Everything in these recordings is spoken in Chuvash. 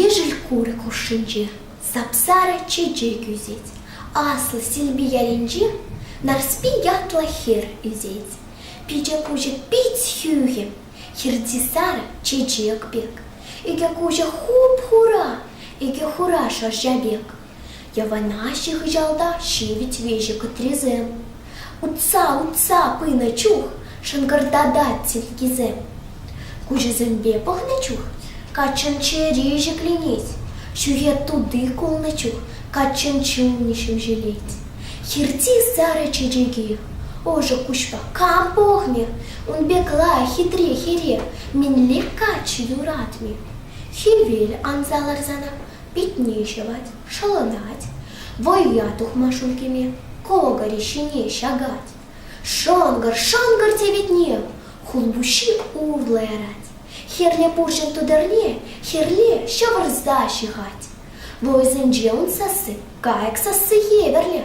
Ешӗл курӑк хушшинче сап-сарӑ чечек ӳсет. Аслӑ Силпи ялӗнче Нарспи ятлӑ хӗр ӳсет. Пичӗ куҫӗ пит хӳхӗм, хирти сарӑ чечек пек. Икӗ куҫӗ хуп-хура, икӗ хура шӑрҫа пек. Йӑванаҫҫӗ хыҫалта ҫивӗч веҫӗ кӑтрисем. Утса, утса пынӑ чух шӑнкӑртатать силкисем. Куҫӗсемпе пӑхнӑ чух каччӑн чӗри ҫӗкленет. Ҫӳхе тути кулнӑ чух каччӑн чунӗ ҫемҫелет. Хирти сарӑ чечеки ӑшӑ куҫпа кам пӑхнӗ? Ун пекла хитре хӗре мӗнле каччӑ юратмӗ? Хӗвел анса ларсанах питне ҫӑвать, шӑлӑнать, вӑййа тухма ҫул кӗме, кӑкӑрӗ ҫине ҫакать. Шӑнкӑр-шӑнкӑр тиветне хулпуҫҫи урлӑ ярать. Хӗрлӗ пурҫӑн тутӑрне хӗрле ҫӑвӑрса ҫыхать. Вӑйсенче ун сасси, кайӑк сасси евӗрлӗ.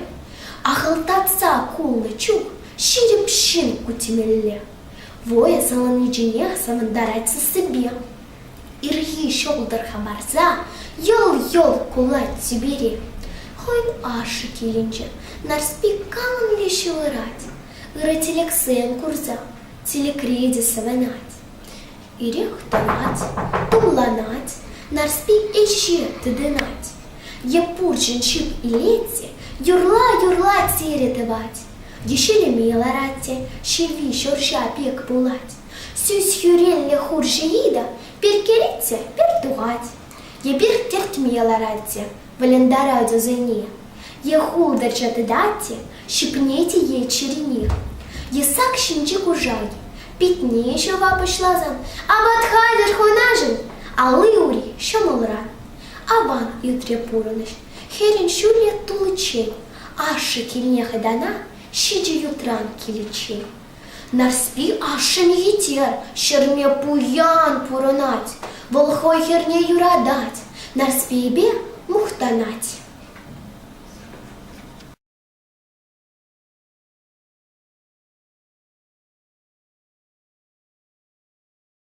Ахӑлтатса кулнӑ чух ҫирӗп ҫын ку темелле. Вӑйӑ савӑнни чӗнех савӑнтарать сассипе. Ирхи ҫӑлтӑрха парса йӑл-йӑл кулать Сибири. Хӑй ашшӗ килӗнче Нарспи канлӗ ҫывӑрать, ырӑ тӗлӗксем курса тилӗкри те савӑнать. Ирех тӑрать, тулланать, Нарспи ӗҫе тытӑнать. Е пурҫӑн ҫип илет те юрла-юрла тирӗ тӑвать. Ешелеме ларать те ҫилли шӑрҫа пек пулать. Сӳс-хӳреллӗ хурҫӑ Лида перкелет те пӗр тухать, е пӗр тӗртме ларать те вӑлӑнтарать ӑсене, е хултӑрча тытать те ҫӗпнет е чӗринех, е сак ҫинчи куршак питне ҫӑва пуҫласан апат хатӗр хунашӑн алли-ури ҫӑмӑлран. Аван ӳтре пурӑнӑҫ хӗрӗн ҫӳле туличчен, ашшӗ килне хӑтана ҫичӗ ютран киличчен Нарспи ашшӗнхи те ҫӗрме пуян пурӑнать. Вӑл хӑй хӗрне юратать, Нарспийӗпе мухтанать.